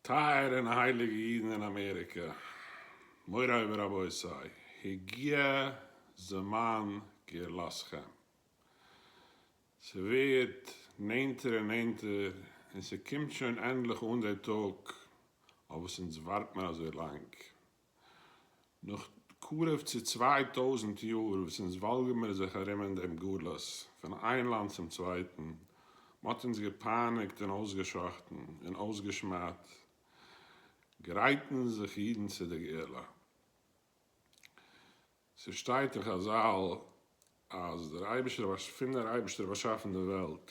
טייערע און הייליגע אידן אין אמעריקע, מוריי ורבותיי, הגיע זמן גאולתכם. ס'ווערט נענטער און נענטער, און ס'קומט שוין ענדליך אן דער טאג אויף וואס אונז ווארט מיר אזוי לאנג. נאך קרוב צו צוויי טויזנט יאר וואס אונז וואלגערן מיר זיך ארום אין דעם גלות, פון איין לאנד צום צווייטן, מען האט אונז געפייניגט און אויסגעשחטן און אויסגעשמד'ט, גרייטן זיך אידן צו די גאולה. ס'שטייט אין חזל אז דער אייבערשטער, פון דער אייבערשטער באשאפן די וועלט.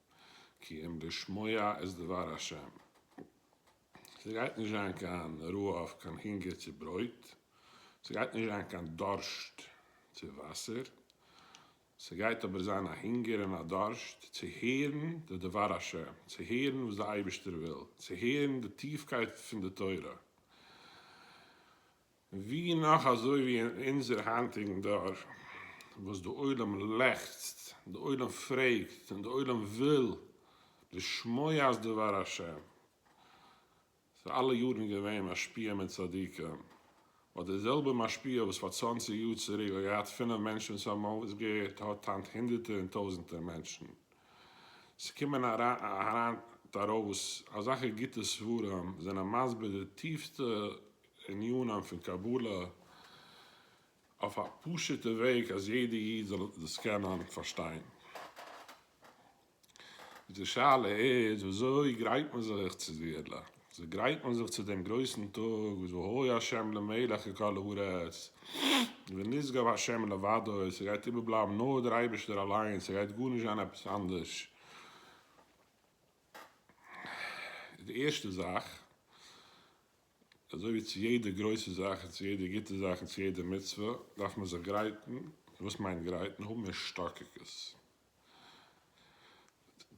כי אם לשמוע את דבר השם. ס'גייט נישט זיין קיין רעוה אויף קיין הונגער צו ברויט, ס'גייט נישט זיין קיין דארשט צו וואסער, ס'גייט אבער זיין א הונגער און א דארשט צו הערן די דבר השם, צו הערן וואס די אייבערשטער וויל, צו הערן די טיפקייט פון די תורה. ווי נאך אזוי ווי אין אונזער היינטיגן דור וואס די עולם לעכצט, די עולם פרעגט און די עולם וויל לשמוע אז דבר השם איז אלע יארן געווען משפיע מיט צדיקים, אט די זעלבע משפיע וואס פאר צוואנציג יאר צוריק האט געהאט פינף מענטשן וואס האבן אויסגעהערט האט היינט הונדערטער און טויזנטער מענטשן. ס'קומען אריין טעראוס אזאלכע גוטע ספרים זענען מסביר די טיפסטע ענינים פון קבלה אויף א פשוטע וועג אז יעדע איד זאל דאס קענען פארשטיין. די שאלה איז וויאזוי גרייט מען זיך צו די עולה? וויאזוי גרייט מען זיך צו דעם גרויסן טאג וואס והוי ה' למלך על כל הארץ ונשגב ה' לבדו, ס'גייט איבערבלייבן נאר דער אייבערשטער אליין, ס'גייט גארנישט זיין עפעס אנדערש. די ערשטע זאך אזוי ווי צו יעדע גרויסע זאך און צו יעדע גוטע זאך און צו יעדע מצוה דארף מען זיך גרייטן, וואס מיינט גרייטן? האבן השתוקקות,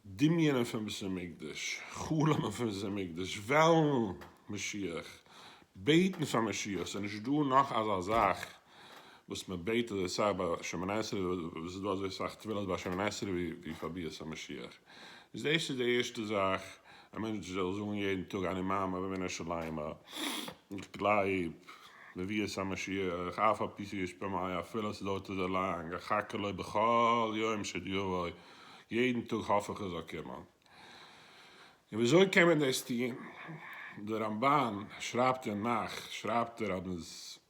דמיונ'ען פון בית המקדש, חלומ'ען פון בית המקדש, וועלן משיח, בעטן פאר משיח, ס'איז נישט דא נאך אזא זאך וואס מען בעט אזוי סאך ביי שומני עשרה וואס איז דא אזוי סאך תפילות ביי שומני עשרה ווי פאר ביאת המשיח איז דאס איז די ערשטע זאך א מענטש זאל זאגן יעדן טאג אני מאמין בבנה שלימה איך גלייב בביאת המשיח אף על פי שיש במאי אפילו ס'דוירט אזוי לאנג אחכה לו בכל יום שעוד יבוא יעדן טאג האף איך ער זאל קומען און ווי אזוי קען מען דאס טון דער רמבן שרייבט אין נח שרייבט ער אז מען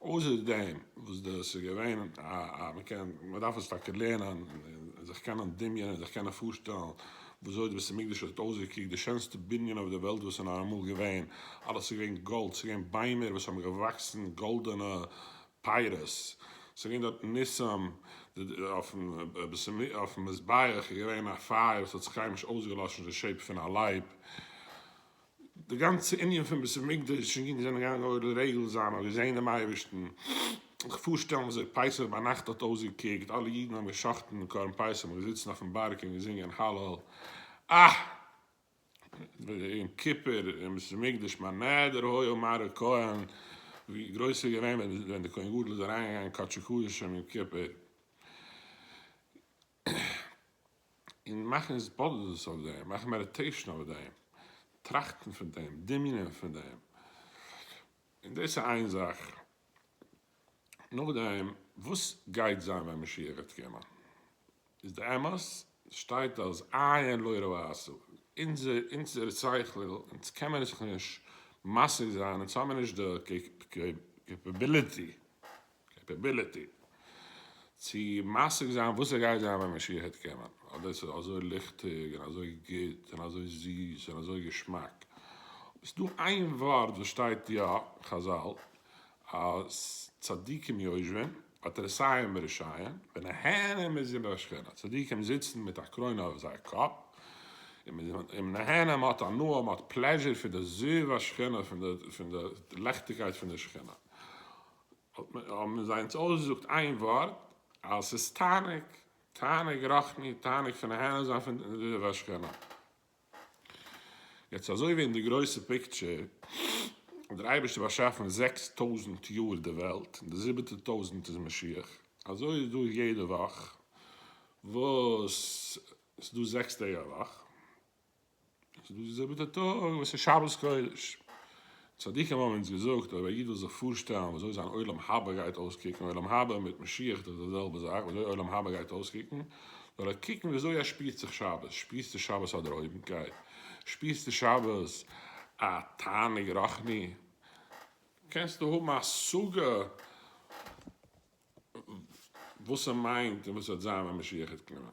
אויסער דעם וואס דאס איז געווען א א מ'קען מ'דארף עס טאקע לערנען און זיך קענען דמיונ'ען זיך קענען פארשטעלן ווי אזוי די בית המקדש האט אויסגעקוקט די שענסטע בנין אויף די וועלט וואס איז נאר אמאל געווען אלעס איז געווען גאלד ס'איז געווען ביימער וואס האבן געוואקסן גאלדענע פירות ס'איז געווען דארט ניסים אויפן אויפן מזבח איז געווען א פייער וואס האט זיך קיינמאל נישט אויסגעלאשן די שעיפ פון א לייב. די גאנצע ענין פון בית המקדש און גיין זענען געגאנגען אויך לרגל זיין האט געזעהן דעם אייבערשטן, זיך פארשטעלן זיך פסח ביינאכט האט אויסגעקוקט אלע אידן האבן גע'שחט'ן קרבן פסח מ'איז געזיצן אויפן בארג און געזינגען הלל א יום כיפור אין בית המקדש מה נדר היה אומר הכהן ווי גרויס איז געווען ווען דער כהן גדול איז אריינגעגאנגען קדשי קדשים יום כיפור. און מאכן התבודדות אויף דעם, מאכן מעדיטעישאן אויף דעם, טראכטן פון דעם, דמיונ'ען פון דעם, און דאס איז איין זאך, נאכדעם וואס גייט זיין ווען משיח וועט קומען, איז די אמת, שטייט אז עיין לא ראתה, אונזער שכל, אונז קען מיר זיך נישט משיג זיין, אונז האמיר נישט די קעפעביליטי, קעפעביליטי צו משיג זיין וואס עס גייט זיין ווען משיח העט קומען, אז דאס איז אזוי ליכטיג און אזוי גוט און אזוי זיס און אזוי געשמאק, אבער ס'דא איין ווארט וואס שטייט יא, חזל, אז צדיקים יושבין ואת רשעים ברשעים ונהנה מזה בהשכנה, צדיקים זיצן מיט א קרוין אויף זייער קאפ און מען נהנה, מען האט הנאה, מען האט פלעזשער פון די זיו השכינה, פון די לעכטיגקייט פון די שכינה. האבן זיי אונז אויסגעזאגט איין ווארט אז ס'איז תענוג, תענוג רוחני, תענוג פון נהנה זיין פון די השכינה. יעצט אזוי ווי אין די גרויסע פיקטשער האט דער אייבערשטער באשאפן זעקס טויזנט יאר די וועלט, און די זיבעטע טויזנט איז משיח, אזוי איז דא יעדע וואך וואס ס'איז דא זעקס טעג א וואך, ס'איז דאס די זעלבע טאג וואס איז שבת קודש. צדיקים האבן אונז געזאגט, אויב א איד וויל זיך פארשטעלן ווי אזוי זיין עולם הבא גייט אויסקוקן, עולם הבא מיט משיח איז דאך די זעלבע זאך, ווי אזוי עולם הבא גייט אויסקוקן, זאל ער קוקן ווי אזוי ער שפירט זיך שבת, שפירסטו שבת א דערהויבנקייט? שפירסטו שבת א תענוג רוחני? קענסטו האבן א השגה וואס ס'מיינט און וואס ס'וועט זיין ווען משיח וועט קומען?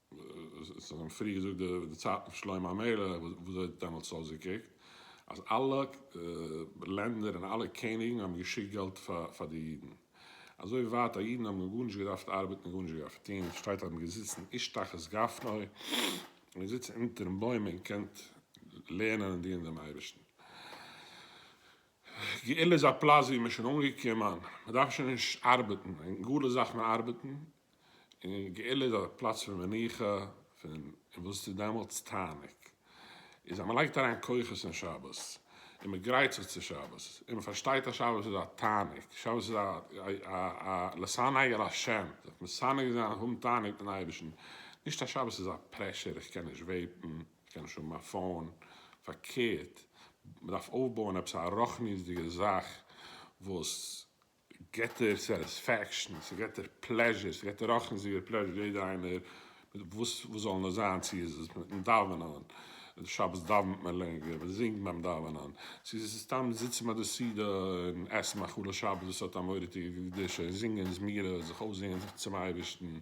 עס האט שוין פריער געזאגט די צייטן פון שלמה המלך וואס האט דעמאלטס אויסגעקוקט אז אלע לענדער און אלע קעניגן האבן געשיקט געלט פאר די אידן אזוי ווייט אז אידן האבן גארנישט געדארפט ארבעטן און גארנישט געדארפט טון און עס שטייט אז מען האט געזיצן איש תחת גפנו מען האט געזיצן אונטערן בוים און געקענט לערנען און דינען דעם אייבערשטן. גאולה איז א פלאץ ווי מען איז שוין אנגעקומען מען דארף שוין נישט ארבעטן אין גלות דארף מען ארבעטן און גאולה איז א פלאץ פון מנוחה, פון וואס איז דעמאלטס תענוג? איז אז מען לייגט אריין כוחות אין שבת, און מען גרייט זיך צו שבת, און מען פארשטייט אז שבת איז א תענוג, שבת איז א א לשנאי על השם, זיך מסנג זיין, האבן תענוג מיטן אייבערשטן, נישט אז שבת איז א פרעשור, איך קען נישט וועיפן, איך קען נישט האבן א פאון, פארקערט, מען דארף אויפבויען עפעס א רוחניות'דיגע זאך וואס געט דיר סעטיספעקשן, ס'געט דיר פלעזשער, ס'געט דיר אויך אינזיגער פלעזשער, יעדע איינער מיט וואס וואס זאל נאר זיין, צו איז עס מיטן דאווענען, שבת דאווענט מען לענגער, מען זינגט ביים דאווענען, צו איז עס סתם זיצן ביי די סעודה און עסן מאכלי שבת וואס האט א מורא'דיגע קדושה, און זינגען זמירות, זיך אויסזינגען זיך צום אייבערשטן,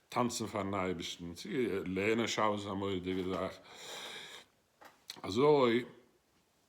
טאנצן פארן אייבערשטן, צו לערנען שבת איז א מורא'דיגע זאך, אזוי.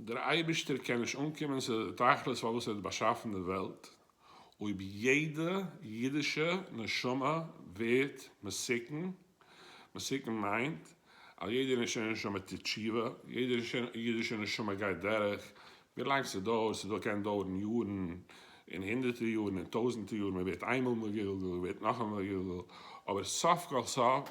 דער אייבערשטער קען נישט אנקומען צו די תכלית פארוואס ער האט באשאפן די וועלט אויב יעדע אידישע נשמה ווערט מסוכן, מסוכן מיינט אז יעדע אידישע נשמה טוט תשובה, יעדע אידישע נשמה גייט דורך, ווילאנג ס'דויערט, ס'דא קען דויערן יארן און הונדערטער יארן און טויזנטער יארן, מ'ווערט איינמאל מגולגל, מ'ווערט נאכאמאל מגולגל, אבער סוף כל סוף,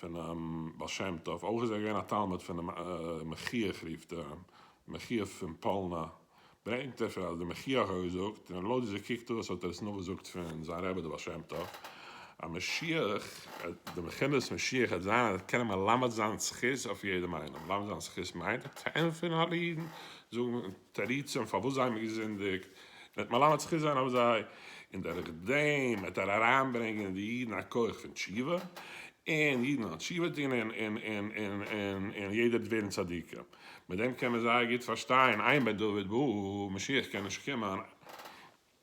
פונעם בעל שם טוב, אויך איז ער געווען א תלמיד פונעם מחיח רופט אים, מחיח פון פאלנא, ברענגט ער פון אז דער מחיח האט געזאגט, און לויט ווי ס' קוקט אויס האט ער עס נאכגעזאגט פון זיין רבי דער בעל שם טוב, אז משיח, די מכינות משיח וועט זיין אז ער קען מלמד זיין זכות אויף יעדעם איינעם, מלמד זיין זכות מיינט צו ענטפערן אלע אידן, זאגן. תירוצים פארוואס זיי האבן געזינדיגט, וועט מלמד זכות זיין אויף זיי, און דורך דעם וועט ער אריינברענגען אין די אידן א כח פון תשובה, און אידן וועלן תשובה טון און יעדער וועט ווערן צדיקים. מיט דעם קען מען זייער גוט פארשטיין, עיין בדוד בא, משיח קען נישט קומען.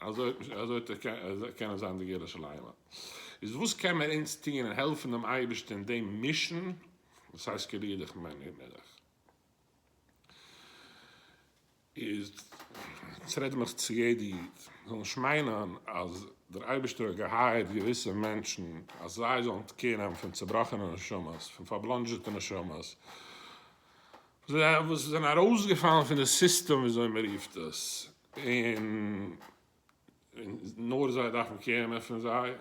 אזוי אזוי טאקע אזוי קענען זיין די געלע שליימען. איז וואס קען מיר אונז טון און העלפן דעם אייבערשטער אין דעם מישן וואס הייסט קעליעדיך מיין אימעלעך. איז עס רעדט מיך צו יעדע איד זאל נישט מיינען אז דער אייבערשטער האט געהייערט געוויסע מענטשן אז זיי זאלן קעיר נעמען פון צובראכענע נשמות, פון פארבלאנדזשעטע נשמות וואס זענען ארויסגעפאלן פון די סיסטעם ווי אזוי מען רופט עס. און נאר זיי דארפן קערן פון זיי,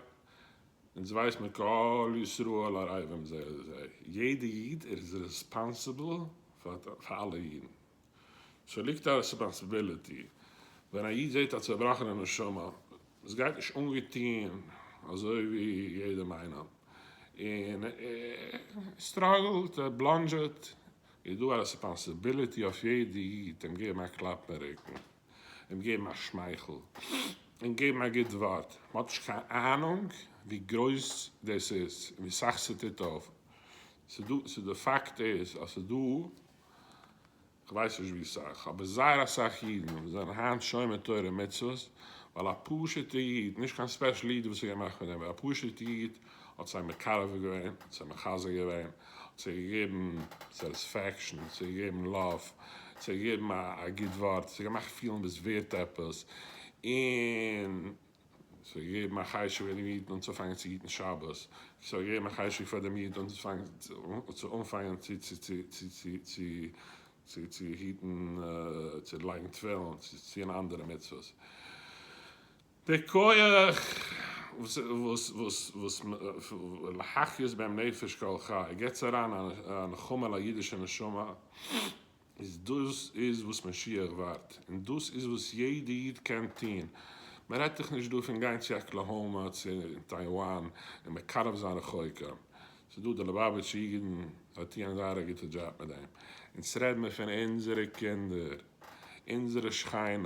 אונז ווייס מען כל ישראל ערבים זה את זה, יעדע איד איז רעספאנסיבל פאר אלע אידן, סאו ליגט א רעספאנסיביליטי, ווען א איד זעט א צובראכענע נשמה וואס גייט נישט אנגעטון אזוי ווי יעדעם איינעם, און ער סטראגלט, ער בלאנדזשעט, איז דא א רעספאנסיביליטי אויף יעדע איד אים געבן א קלאפ אין רוקן, אים געבן א שמייכל, אים געבן א גוט ווארט, מען האט נישט קיין אהנונג ווי גרויס דאס איז און ווי סאך ס'טוט אויף, ס'איז דא פאקט איז אז ס'איז דא כ'ווייס נישט ווי סאך אבער זייער אסאך אידן וואס זענען היינט שומר תורה ומצוות ווייל א פשוט'ע איד, נישט קיין ספעשל איד וואס איז געמאכט פון דעם, א פשוט'ע איד האט זיי מקרב געווען, האט זיי מחזק געווען, האט זיי געגעבן סעטיספעקשאן, האט זיי געגעבן לאוו, האט זיי געגעבן א גוט ווארט, האט זיי געמאכט פילן דו ביסט ווערט עפעס, און עס האט געגעבן א חשק פאר דעם איד אנצופאנגען צו היטן שבת, עס האט געגעבן א חשק פאר דעם איד צו אנפאנגען צו היטן, צו לייגן תפילין, צו טון אנדערע מצוות. דער כח וואס להחיות בהם נפש כל חי געטס אריין א נחמה אין א אידישע נשמה, איז דאס איז וואס משיח ווארט, און דאס איז וואס יעדע איד קען טון, מען רעדט דאך נישט דא פון גיין צו אקלאהאמא צו טייוואן און מקרב זיין רחוקים, ס'איז דא די ליבאוויטשע אידן זיי טוען זייער א גוטע דזשאב מיט דעם, אונז רעד מען פון אונזערע קינדער, אונזערע שכנים.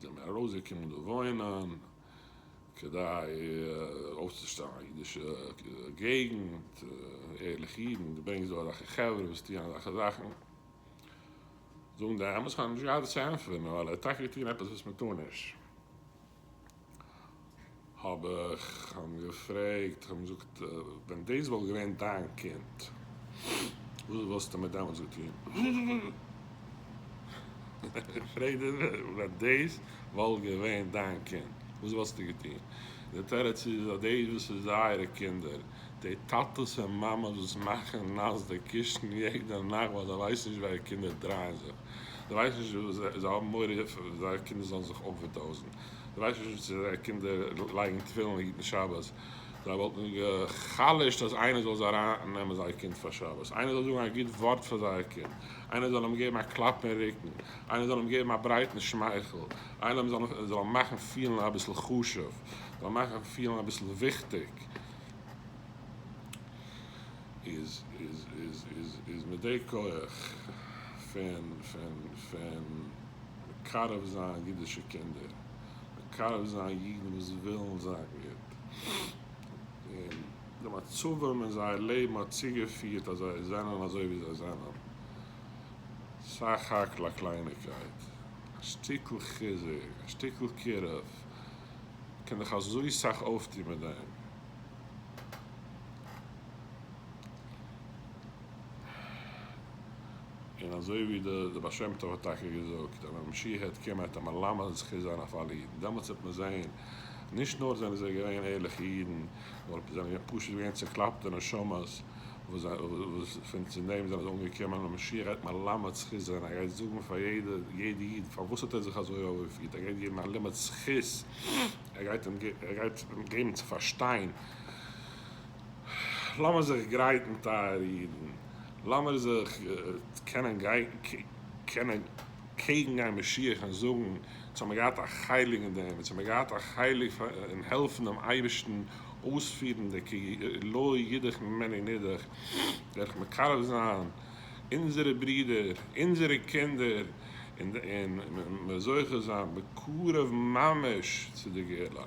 זענען מיר ארויסגעקומען דא וואוינען כדי אויפצושטעלן א אידישע געגנט, ערליכע אידן, דו ברענגסט דא אזעלכע חברה וואס טוען אזעלכע זאכן, זאגן די אמת, כ'האב נישט געהאט וואס צו ענטפערן, ווייל ער האט טאקע געטון עפעס וואס מ'טאר נישט. האב איך אים געפרעגט, האב אים געזאגט, ווען דאס וואלט געווען דיין קינד, וואס וואלסטו מיר דעמאלטס געטון? איך פרעג דיר, ווען דאס וואלט געווען דיין קינד, וואס וואלסטו געטון? דער תירוץ איז, אז דאס וואס איז זייערע קינדער, די טאטעס און מאמעס וואס מאכן נאס די קישן יעדע נאכט ווייל זיי ווייסן נישט ווי זייערע קינדער דרייען זיך, זיי ווייסן נישט וואס זיי האבן מורא זייערע קינדער זאלן זיך אווערדאוזן, די ווייסט נישט וואס איז א קינדער לייגן תפילין היטן שבת, זיי וואלטן גע'חלש'ט אז איינער זאל זיי אריין נעמען זייער קינד פאר שבת, איינער זאל זאגן א גוט ווארט פאר זייער קינד, איינער זאל אים געבן א קלאפ אין רוקן, איינער זאל אים געבן א ברייטן שמייכל, איינער זאל אים מאכן פילן אביסל חשוב, זאל אים מאכן פילן אביסל וויכטיג, איז מיט די כח פון. מקרב זיין אידישע קינדער, מקרב זיין אידן וואס ווילן זיין גוט, און די מצבים אין זייער לעבן האט צוגעפירט אז זיי זענען אזוי ווי זיי זענען, סך הכל א קלייניגקייט, א שטיקל חיזוק, א שטיקל קירוב, מען קען דאך אזוי סאך אויפטון מיט דעם. און אזוי ווי די בעל שם טוב האט טאקע געזאגט אז ווען משיח העט קומען העט ער מלמד זכות זיין אויף אלע אידן, דעמאלטס העט מען זען נישט נאר זענען זיי געווען ערליכע אידן, נאר זיי זענען פשוט געווען צעקלאפטע נשמות וואס פון צו דעם זענען זיי אנגעקומען, און משיח העט מלמד זכות זיין, ער גייט זאגן פאר יעדע איד פארוואס האט ער זיך אזוי אויפגעפירט, ער גייט געבן א לימוד זכות, ער גייט אים געבן צו פארשטיין. לאמיר זיך גרייטן טייערע אידן, לאמיר זיך קענען קענען קעגן גיין משיח און זאגן, אונז האמיר געהאט א חלק אין דעם, אונז האמיר געהאט א חלק אין העלפן דעם אייבערשטן אויספירן די כי לא ידעך ממני נידעך, דורך מקרב זיין אונזערע ברידער, אונזערע קינדער, און זוכה זיין בקרוב ממש צו די גאולה.